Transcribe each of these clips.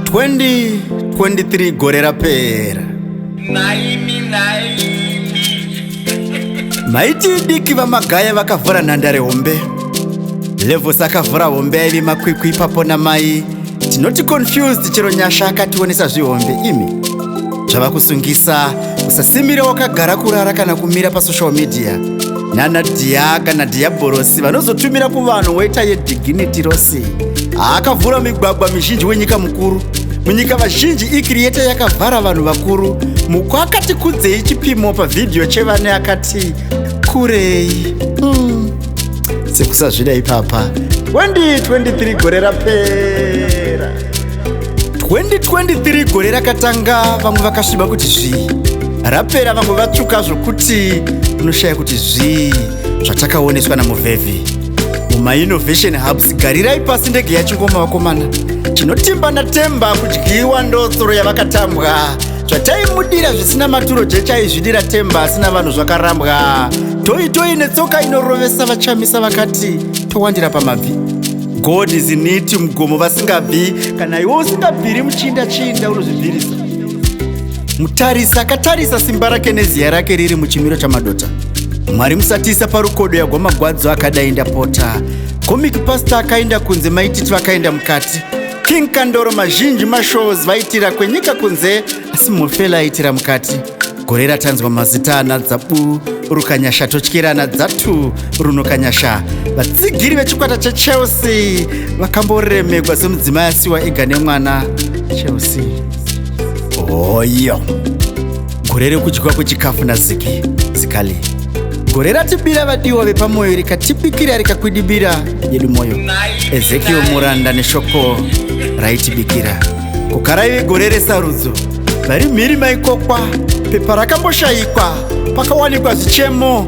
Twendi 23 gore rapera Naimi, naimi. maiti idiki vamagaya vakavhura nhandare hombe levos akavhura hombe yaive makwikwi ipapo namai tinoti confused chero nyasha akationesa zvihombe imi zvava kusungisa usasimira wakagara kurara kana kumira pasocial media nana dhiya kana dhiyabhorosi vanozotumira kuvanhu woita yediginiti rose haakavhura migwagwa mizhinji wenyika mukuru munyika vazhinji ikiriyeta yakavhara vanhu vakuru muko akati kudzei chipimo pavhidhiyo chevane akati kurei mm. sekusazvida ipapa 2023 gore rapera 2023 gore rakatanga vamwe vakasviba kuti zvii rapera vamwe vatsvuka zvokuti unoshaya kuti zvii zvatakaoneswa namuvhevhi mumainnovation hubs garirai pasi ndege yachingoma vakomana chinotimba natemba kudyiwa ndotsoro yavakatambwa zvataimudira zvisina maturo jechaizvidira temba asina vanhu zvakarambwa toi toi netsoka inorovesa vachamisa vakati towandira pamabvi god is in it mugomo vasingabvi kana iwe usingabviri muchinda chinda unozvibvirisa mutarisi akatarisa simba rake neziya rake riri muchimiro chamadota mwari musatisa parukodo yagwa magwadzo akadai ndapota comic pasta akaenda kunze maititi vakaenda mukati King Kandoro mazhinji mashows vaitira kwenyika kunze asi Mofela aitira mukati. Gore ratanzwa mazita ana Dzabu, Rukanyasha totyira ana Dzatu, Runokanyasha. Vatsigiri vechikwata cheChelsea vakamboremekwa semudzimai asiwa ega nemwana. Chelsea. Hoyo. Oh, gore rekudyiwa kwechikafu naziki zikali gore ratibira vadiwa vepamoyo rikatibikira rikakwidibira yedu moyo ezekiel muranda neshoko raitibikira kukaraive gore resarudzo vari mhiri maikokwa pepa rakamboshayikwa pakawanikwa zvichemo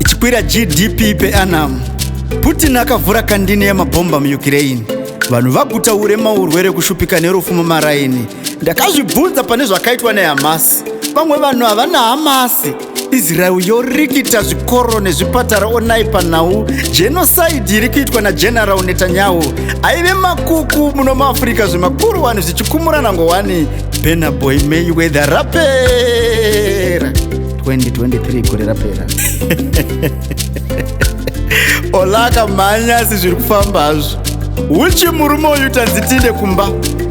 ichikwira gdp peanam putin akavhura kandini yemabhomba muukraine vanhu vaguta urema urwere kushupika nerufu mumaraini ndakazvibvunza pane zvakaitwa nehamasi vamwe vanhu havana hamasi israel yorikita zvikoro nezvipatara onai panhau jenosaidi iri kuitwa nageneral netanyahu aive makuku muno muafrica zvemakuru wani zvichikumurana ngowani benaboy may weather rapera 2023 gore rapera olaka mhanya asi zviri kufamba hazvo uchi murume uyu tanzitinde kumba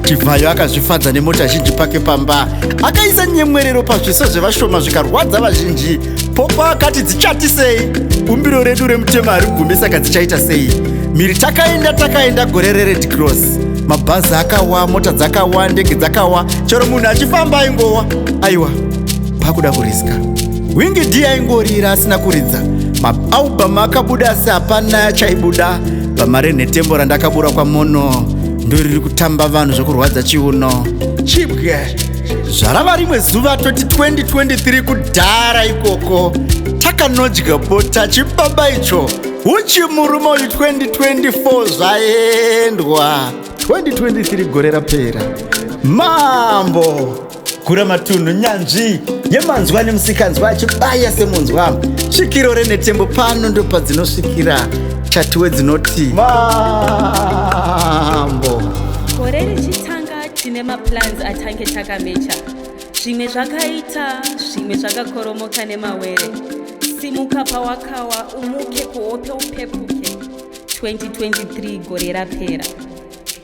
chivhayo akazvifadza nemota zhinji pake pamba akaisa nyemwerero pazviso zvevashoma zvikarwadza vazhinji popo akati dzichati sei bumbiro redu remutema hari gumi saka dzichaita sei miri takaenda takaenda gore rered cross mabhazi akawa mota dzakawa ndege dzakawa chero munhu achifamba aingowa aiwa pakuda kuriska wingi d aingorira asina kuridza maaubamu akabuda asi hapana achaibuda bama renhetembo randakabura kwamono ndoriri kutamba vanhu zvekurwadza chiuno chibwe zvarava rimwe zuva 2023 kudhara ikoko takanodya bota chibaba icho uchi murume uyu 2024 zvaendwa 2023 gore rapera mambo gura matunhu nyanzvi yemanzwa nemusikanzwa achibaya semunzwa svikiro renetembo pano ndopadzinosvikira chatiwe dzinoti mambo gore richitanga tine maplans atange takamecha zvimwe zvakaita zvimwe zvakakoromoka nemawere simuka pawakawa umuke kuhope upepuke 2023 gore rapera